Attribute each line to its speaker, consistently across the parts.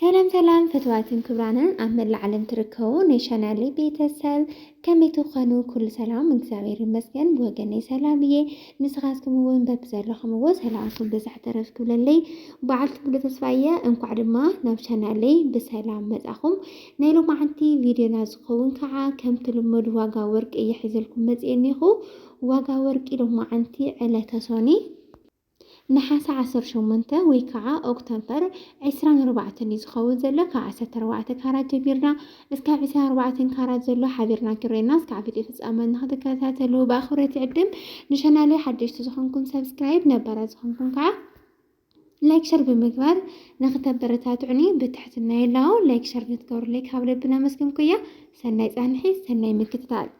Speaker 1: ሰላም ሰላም ፍትዋትን ክብራንን ኣብ መላእ ዓለም ትርከቡ ናይ ቻናሊ ቤተሰብ ከመይ ትኾኑ? ኩሉ ሰላም እግዚኣብሔር ይመስገን ብወገነይ ሰላም እየ። ንስኻትኩም እውን በብዘለኹምዎ ሰላምኩም ብዛሕ ተረፍ ክብለለይ በዓልቲ ሙሉ ተስፋ እየ። እንኳዕ ድማ ናብ ቻናለይ ብሰላም መጻኹም። ናይ ሎማዓንቲ ቪድዮና ዝኸውን ከዓ ከምቲ ልሙድ ዋጋ ወርቂ እየ ሒዘልኩም መፅኤ እኒኹ። ዋጋ ወርቂ ሎማዓንቲ ዕለተ ሶኒ ነሓሰ ዓሰርተ ሸሞንተ ወይ ካዓ ኦክቶምፐር ዕስራን ኣርባዕተን እዩ ዝከውን ዘሎ ካብ ዓሰርተ ኣርባዕተ ካራት ጀሚርና እስካብ ዕስራን ኣርባዕተን ካራት ዘሎ ሓቢርና ክሬና እስካዕ ፍጤ ፍፃመ ንክትከታተሉ ብኣክብሮት ይዕድም ንሸናለይ ሓደሽቲ ዝኮንኩም ሰብስክራይብ ነባራት ዝኮንኩም ካዓ ላይክ ሸር ብምግባር ንክተበረታትዑኒ ብትሕትና የላው ላይክ ሸር ንትገብሩለይ ካብ ልቢ ነመስግንኩያ ሰናይ ፃንሒት ሰናይ ምክትታል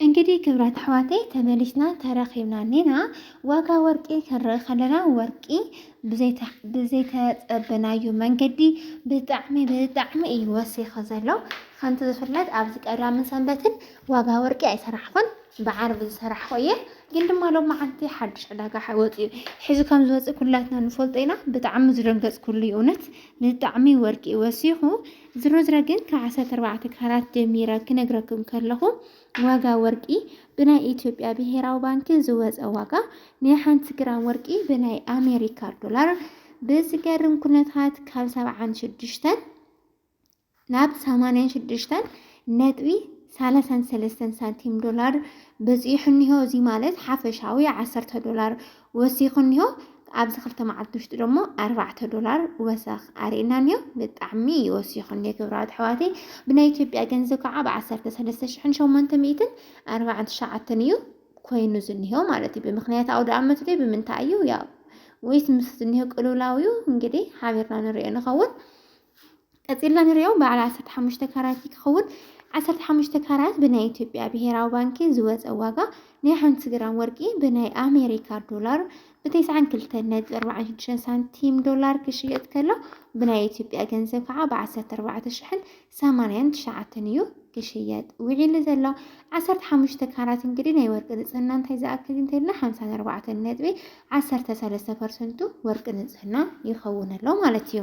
Speaker 1: እንግዲህ ክብራት ኣሕዋተይ ተመሊስና ተረኺብና ኔና ዋጋ ወርቂ ክንርኢ ከለና ወርቂ ብዘይተፀበናዩ መንገዲ ብጣዕሚ ብጣዕሚ እዩ ወሲኸ ዘሎ ከምቲ ዝፍለጥ ኣብዚ ቀዳምን ሰንበትን ዋጋ ወርቂ ኣይሰራሕኹን ብዓርቢ ዝሰራሕኹ እየ ግን ድማ ሎም መዓልቲ ሓድሽ ዕዳጋ ወፂኡ ሕዚ ከም ዝወፅእ ኩላትና ንፈልጦ ኢና ብጣዕሚ ዝደንገፅኩሉ እዩ እውነት ብጣዕሚ ወርቂ ወሲኹ ዝረዝረ ግን ካብ ዓሰርተ ኣርባዕተ ካራት ጀሚረ ክነግረኩም ከለኹ ዋጋ ወርቂ ብናይ ኢትዮጵያ ብሄራዊ ባንኪ ዝወፀ ዋጋ ናይ ሓንቲ ግራም ወርቂ ብናይ ኣሜሪካ ዶላር ብዝገርም ኩነታት ካብ ሰብዓን ሽዱሽተን ናብ ሰማንያን ሽዱሽተን ነጥቢ ሰላሳን ሰለስተን ሳንቲም ዶላር በፂሑ እኒሆ። እዚ ማለት ሓፈሻዊ ዓሰርተ ዶላር ወሲኹ እኒሆ። ኣብዚ ክልተ መዓልቲ ውሽጢ ደሞ ኣርባዕተ ዶላር ወሰኽ ኣርእና እኒሆ። ብጣዕሚ እዩ ወሲኹ እኒሆ ክብራት ኣሕዋተይ። ብናይ ኢትዮጵያ ገንዘብ ከዓ ብዓሰርተ ሰለስተ ሽሕን ሸሞንተ ሚእትን ኣርባዓን ትሽዓተን እዩ ኮይኑ ዝኒሆ ማለት እዩ። ብምክንያት ኣውደ ኣመት ዶ ብምንታይ እዩ ያው ወይስ ምስ ዝኒሆ ቅልውላው እዩ እንግዲህ ሓቢርና ንሪኦ ንኸውን። ቀጺልና ንሪኦ በዓል ዓሰርተ ሓሙሽተ ካራት ክኸውን ዓሰርተ ሓሙሽተ ካራት ብናይ ኢትዮጵያ ብሄራዊ ባንኪ ዝወፀ ዋጋ ናይ ሓንቲ ግራም ወርቂ ብናይ ኣሜሪካ ዶላር ብተስዓን ክልተን ነጥቢ ኣርባዓን ሽዱሽተን ሳንቲም ዶላር ክሽየጥ ከሎ ብናይ ኢትዮጵያ ገንዘብ ከዓ ብዓሰርተ ኣርባዕተ ሽሕን ሰማንያን ትሽዓተን እዩ ክሽየጥ ውዒሉ ዘሎ ዓሰርተ ሓሙሽተ ካራት እንግዲህ ናይ ወርቂ ንፅህና እንታይ ዝኣክል እንተልና ሓምሳን ኣርባዕተን ነጥቢ ዓሰርተ ሰለስተ ፐርሰንቱ ወርቂ ንፅህና ይኸውን ኣሎ ማለት እዩ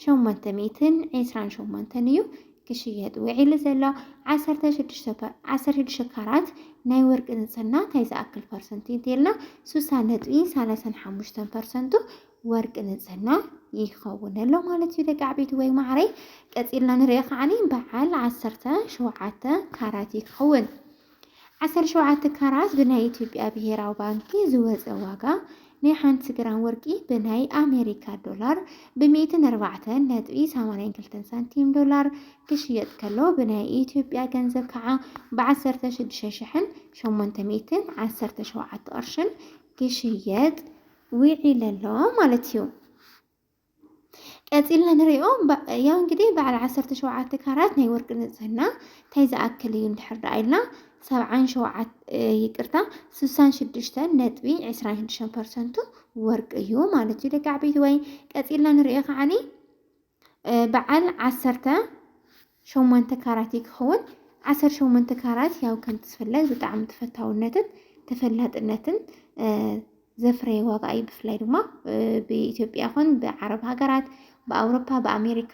Speaker 1: ሸሞንተ ሚእትን ዕስራን ሸሞንተን እዩ ክሽየጥ ውዒሉ ዘሎ። ዓሰርተ ሽዱሽተ ፐ- ዓሰርተ ሽዱሽተ ካራት ናይ ወርቂ ንጽህና እንታይ ዝኣክል ፐርሰንት እዩ እንተይልና ስሳ ነጥቢ ሰላሳን ሓሙሽተን ፐርሰንቱ ወርቂ ንጽህና ይኸውን ኣሎ ማለት እዩ ደቂ ዓበይቲ ወይ ማዕረይ። ቀጺልና ንሪኦ ከዓኒ በዓል ዓሰርተ ሸውዓተ ካራት ይኸውን። ዓሰርተ ሸውዓተ ካራት ብናይ ኢትዮጵያ ብሄራዊ ባንኪ ዝወፀ ዋጋ ናይ ሓንቲ ግራም ወርቂ ብናይ ኣሜሪካ ዶላር ብሚእትን ኣርባዕተን ነጥቢ ሰማንያን ክልተን ሳንቲም ዶላር ክሽየጥ ከሎ ብናይ ኢትዮጵያ ገንዘብ ከዓ ብዓሰርተ ሽዱሽተ ሽሕን ሸሞንተ ሚእትን ዓሰርተ ሸውዓተ ቅርሽን ክሽየጥ ውዒለ ኣሎ ማለት እዩ። ቀፂልና ንሪኦ ያው እንግዲህ በዓል ዓሰርተ ሸውዓተ ካራት ናይ ወርቂ ንፅህና እንታይ ዝኣክል እዩ እንድሕር ደኣ ኢልና ሰብዓን ሸውዓት ይቅርታ ስሳን ሽዱሽተን ነጥቢ ዕስራን ሽዱሽተን ፐርሰንቱ ወርቂ እዩ ማለት እዩ ደቂ ዓበይቲ ወይ ቀፂልና ንሪኦ ከዓኒ በዓል ዓሰርተ ሸሞንተ ካራት እዩ ክኸውን። ዓሰርተ ሸሞንተ ካራት ያው ከምቲ ዝፍለጥ ብጣዕሚ ተፈታውነትን ተፈላጥነትን ዘፍረየ ዋጋ እዩ። ብፍላይ ድማ ብኢትዮጵያ ይኹን ብዓረብ ሃገራት፣ ብኣውሮፓ፣ ብኣሜሪካ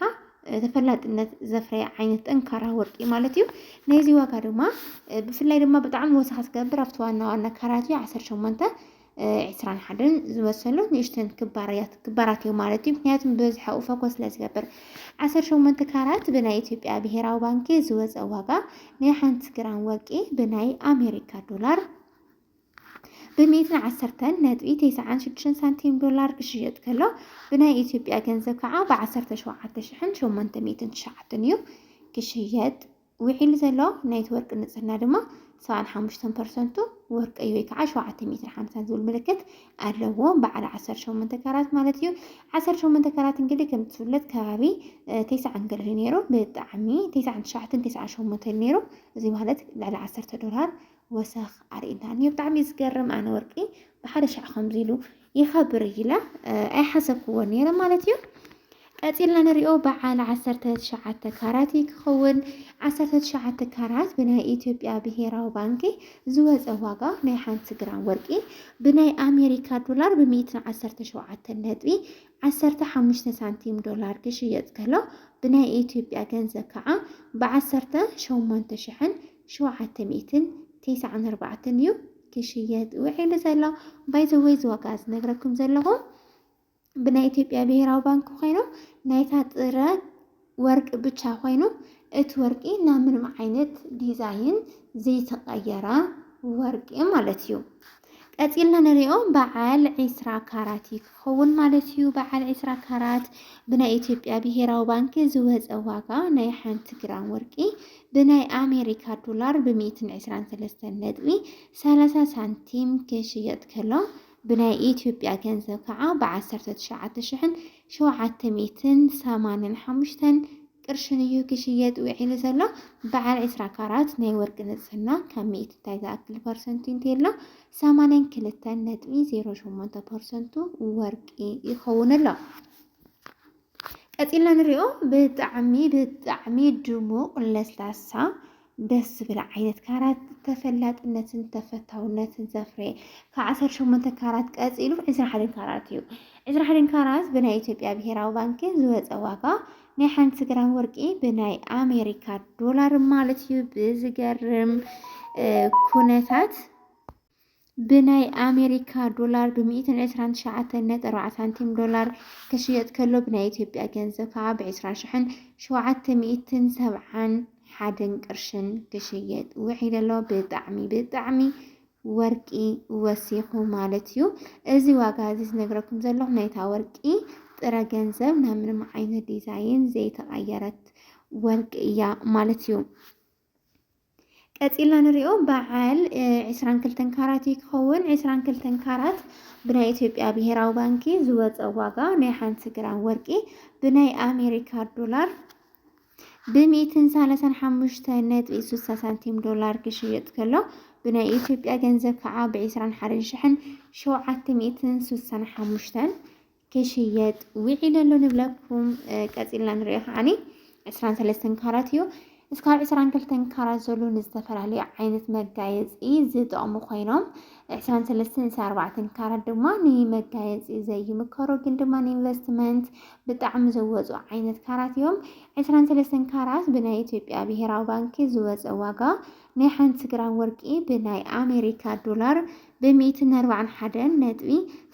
Speaker 1: ተፈላጥነት ዘፍረየ ዓይነት ጠንካራ ወርቂ ማለት እዩ። ናይዚ ዋጋ ድማ ብፍላይ ድማ ብጣዕሚ ወሰኽ ዝገብር ኣብቲ ዋና ዋና ካራት እዩ ዓሰርተ ሸሞንተ ዕስራን ሓደን ዝመሰሉ ንእሽተን ክባርያት ክባራት እዮም ማለት እዩ። ምክንያቱም ብበዝሒ ኣብኡ ፎከስ ስለ ዝገብር ዓሰርተ ሸሞንተ ካራት ብናይ ኢትዮጵያ ብሄራዊ ባንኪ ዝወፀ ዋጋ ናይ ሓንቲ ግራም ወርቂ ብናይ ኣሜሪካ ዶላር ብሚእትን ዓሰርተን ነጥቢ ተስዓን ሽዱሽተን ሳንቲም ዶላር ክሽየጥ ከሎ ብናይ ኢትዮጵያ ገንዘብ ከዓ ብዓሰርተ ሸውዓተ ሽሕን ሸሞንተ ሚእትን ትሽዓትን እዩ ክሽየጥ ውዒሉ ዘሎ ናይቲ ወርቂ ንጽህና ድማ ሰብዓን ሓሙሽተን ፐርሰንቱ ወርቂ እዩ ወይ ከዓ ሸውዓተ ሜትር ሓምሳን ዝብል ምልክት ኣለዎ በዓል ዓሰርተ ሸሞንተ ካራት ማለት እዩ ዓሰርተ ሸሞንተ ካራት እንግዲህ ከም ዝፍለጥ ከባቢ ተስዓን ግሪ ነይሩ ብጣዕሚ ተስዓን ትሽዓተን ተስዓን ሸሞንተን ነይሩ እዚ ማለት ልዕሊ ዓሰርተ ዶላር ወሰኽ ኣርእና እዩ ብጣዕሚ ዝገርም ኣነ ወርቂ ብሓደ ሻዕ ከምዚ ኢሉ ይኸብር ኢለ ኣይሓሰብኩዎን ነይረ ማለት እዩ። ቀፂልና ንሪኦ በዓል ዓሰርተ ትሽዓተ ካራት እዩ ክኸውን። ዓሰርተ ትሽዓተ ካራት ብናይ ኢትዮጵያ ብሄራዊ ባንኪ ዝወፀ ዋጋ ናይ ሓንቲ ግራም ወርቂ ብናይ ኣሜሪካ ዶላር ብሚእትን ዓሰርተ ሸውዓተ ነጥቢ ዓሰርተ ሓሙሽተ ሳንቲም ዶላር ክሽየጥ ከሎ ብናይ ኢትዮጵያ ገንዘብ ከዓ ብዓሰርተ ሸሞንተ ሽሕን ሸውዓተ ሚእትን ቴስዓን ኣርባዕተን እዩ ክሽየጥ ውዒሉ ዘሎ ባይዘወይ እዚ ዋጋ ዝነግረኩም ዘለኹ ብናይ ኢትዮጵያ ብሄራዊ ባንኪ ኮይኑ ናይታ ጥረ ወርቂ ብቻ ኮይኑ እቲ ወርቂ ናብ ምንም ዓይነት ዲዛይን ዘይተቀየረ ወርቂ ማለት እዩ። ቀፂልና ንሪኦ በዓል ዒስራ ካራት እዩ ክኸውን ማለት እዩ። በዓል ዒስራ ካራት ብናይ ኢትዮጵያ ብሄራዊ ባንኪ ዝወፀ ዋጋ ናይ ሓንቲ ግራም ወርቂ ብናይ ኣሜሪካ ዶላር ብሚእትን ዕስራን ሰለስተን ነጥቢ ሰላሳ ሳንቲም ክሽየጥ ከሎ ብናይ ኢትዮጵያ ገንዘብ ከዓ ብዓሰርተ ትሽዓተ ሽሕን ሸውዓተ ሚእትን ሰማንን ሓሙሽተን ቅርሽን እዩ ክሽየጥ ውዒሉ ዘሎ። በዓል ዕስራ ካራት ናይ ወርቂ ንጽህና ካብ ሚእቲ እንታይ ዝኣክል ፐርሰንቱ እንተሎ ሰማንያን ክልተን ነጥቢ ዜሮ ሸሞንተ ፐርሰንቱ ወርቂ ይኸውን ኣሎ። ቀጺልና ንሪኦ ብጣዕሚ ብጣዕሚ ድሙቕ ለስላሳ ደስ ዝብል ዓይነት ካራት ተፈላጥነትን ተፈታውነትን ዘፍረየ ካብ ዓሰርተ ሸሞንተ ካራት ቀፂሉ ዕስራ ሓደን ካራት እዩ። ዕስራ ሓደን ካራት ብናይ ኢትዮጵያ ብሄራዊ ባንኪ ዝወፀ ዋጋ ናይ ሓንቲ ግራም ወርቂ ብናይ ኣሜሪካ ዶላር ማለት እዩ ብዝገርም ኩነታት ብናይ ኣሜሪካ ዶላር ብ ሚእትን ዕስራን ትሽዓተን ነጥቢ ኣርባዕተ ሳንቲም ዶላር ክሽየጥ ከሎ ብናይ ኢትዮጵያ ገንዘብ ከዓ ብ ዕስራ ሽሕን ሸውዓተ ሚእትን ሰብዓን ሓደን ቅርሽን ክሽየጥ ውዒሉ ኣሎ። ብጣዕሚ ብጣዕሚ ወርቂ ወሲኹ ማለት እዩ። እዚ ዋጋ እዚ ዝነግረኩም ዘለኹ ናይታ ወርቂ ጥረ ገንዘብ ናብ ምንም ዓይነት ዲዛይን ዘይተቐየረት ወርቂ እያ ማለት እዩ። ቀጺልና ንሪኦ በዓል ዕስራን ክልተን ካራት እዩ ክኸውን። ዕስራን ክልተን ካራት ብናይ ኢትዮጵያ ብሄራዊ ባንኪ ዝወፀ ዋጋ ናይ ሓንቲ ግራም ወርቂ ብናይ ኣሜሪካ ዶላር ብሚእትን ሰላሳን ሓሙሽተ ነጥቢ ስሳ ሳንቲም ዶላር ክሽየጥ ከሎ ብናይ ኢትዮጵያ ገንዘብ ከዓ ብዕስራን ሓደን ሽሕን ሸውዓተ ሚእትን ስሳን ሓሙሽተን ክሽየጥ ውዒሉ ኣሎ ንብለኩም ቀፂልና ንሪኦ ከዓኒ ዕስራን ሰለስተን ካራት እዩ እስካብ ዕስራን ክልተን ካራት ዘሎ ንዝተፈላለዩ ዓይነት መጋየፂ ዝጠቕሙ ኮይኖም ዕስራን ሰለስተን ዕስራ ኣርባዕተን ካራት ድማ ንመጋየፂ ዘይምከሩ ግን ድማ ንኢንቨስትመንት ብጣዕሚ ዘወፁ ዓይነት ካራት እዮም ዕስራን ሰለስተን ካራት ብናይ ኢትዮጵያ ብሄራዊ ባንኪ ዝወፀ ዋጋ ናይ ሓንቲ ግራም ወርቂ ብናይ ኣሜሪካ ዶላር ብሚእትን ኣርባዓን ሓደን ነጥቢ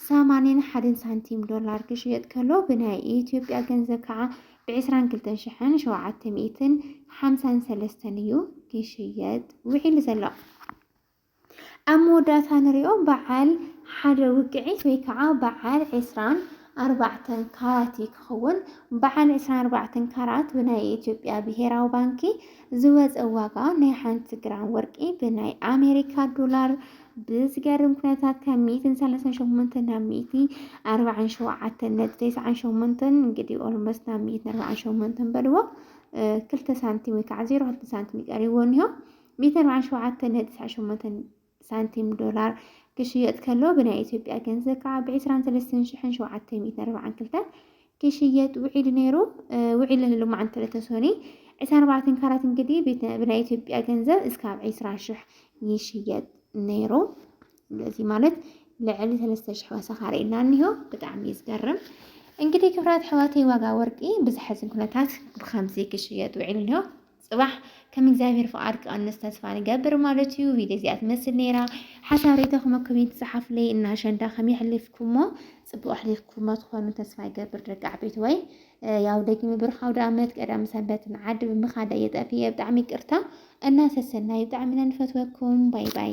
Speaker 1: ሰማንያን ሓደን ሳንቲም ዶላር ክሽየጥ ከሎ ብናይ ኢትዮጵያ ገንዘብ ከዓ ብዕስራን ክልተን ሽሕን ሸውዓተ ሚእትን ሓምሳን ሰለስተን እዩ ክሽየጥ ውዒሉ ዘሎ። ኣብ መወዳእታ ንሪኦ በዓል ሓደ ውቅዒት ወይ ከዓ በዓል ዕስራን ኣርባዕተን ካራት ክኸውን በዓል ዕስራን ኣርባዕተን ካራት ብናይ ኢትዮጵያ ብሄራዊ ባንኪ ዝወፀ ዋጋ ናይ ሓንቲ ግራም ወርቂ ብናይ ኣሜሪካ ዶላር ብዝገርም ኩነታት ካብ ሚእትን ሰለሳን ሸሞንተን ናብ ሚእቲ ኣርባዓን ሸውዓተን ነጥቢ ተስዓን ሸሞንተን እንግዲህ ኦልሞስት ናብ ሚእትን ኣርባዓን ሸሞንተን በልዎ ክልተ ሳንቲም ወይ ከዓ ዜሮ ክልተ ሳንቲም ይቀሪቦ እኒሆ ሚእቲ ኣርባዓን ሸውዓተን ነጥቢ ተስዓን ሸሞንተን ሳንቲም ዶላር ክሽየጥ ከሎ ብናይ ኢትዮጵያ ገንዘብ ከዓ ብ23742 ክሽየጥ ውዒሉ ነይሩ ውዒሉ ህሉ መዓንተ ለተሶኒ ዕስራ ኣርባዕተን ካራት እንግዲህ ብናይ ኢትዮጵያ ገንዘብ እስካብ ዕስራ ሽሕ ይሽየጥ ነይሩ እዚ ማለት ልዕሊ ሰለስተ ሽሕ ወሰኻ ርእና እኒሆ ብጣዕሚ ዝገርም እንግዲህ ክብራት ሕዋተይ ዋጋ ወርቂ ብዝሐዝን ኩነታት ብከምዚ ክሽየጥ ውዒሉ እኒሆ ጽባሕ ከም እግዚኣብሔር ፍቃድ ክቀንስ ተስፋ ንገብር ማለት እዩ። ቪድዮ እዚኣ ትመስል ነይራ። ሓሳብ ሬቶኹም ኣብ ኮሜንት ጸሓፉለይ እና ኣሸንዳ ከመይ ኣሕሊፍኩሞ ጽቡቅ ኣሕሊፍኩሞ ትኾኑ ተስፋ ይገብር ደቂ ዓበይቲ ወይ ያው ደጊመ ብሩኽ ኣውደ ኣመት ቀዳም ሰንበት ንዓዲ ብምኻድ እየ ጠፊኤ ብጣዕሚ ይቅርታ እና ሰሰናዩ ብጣዕሚ ኢና ንፈትወኩም ባይ ባይ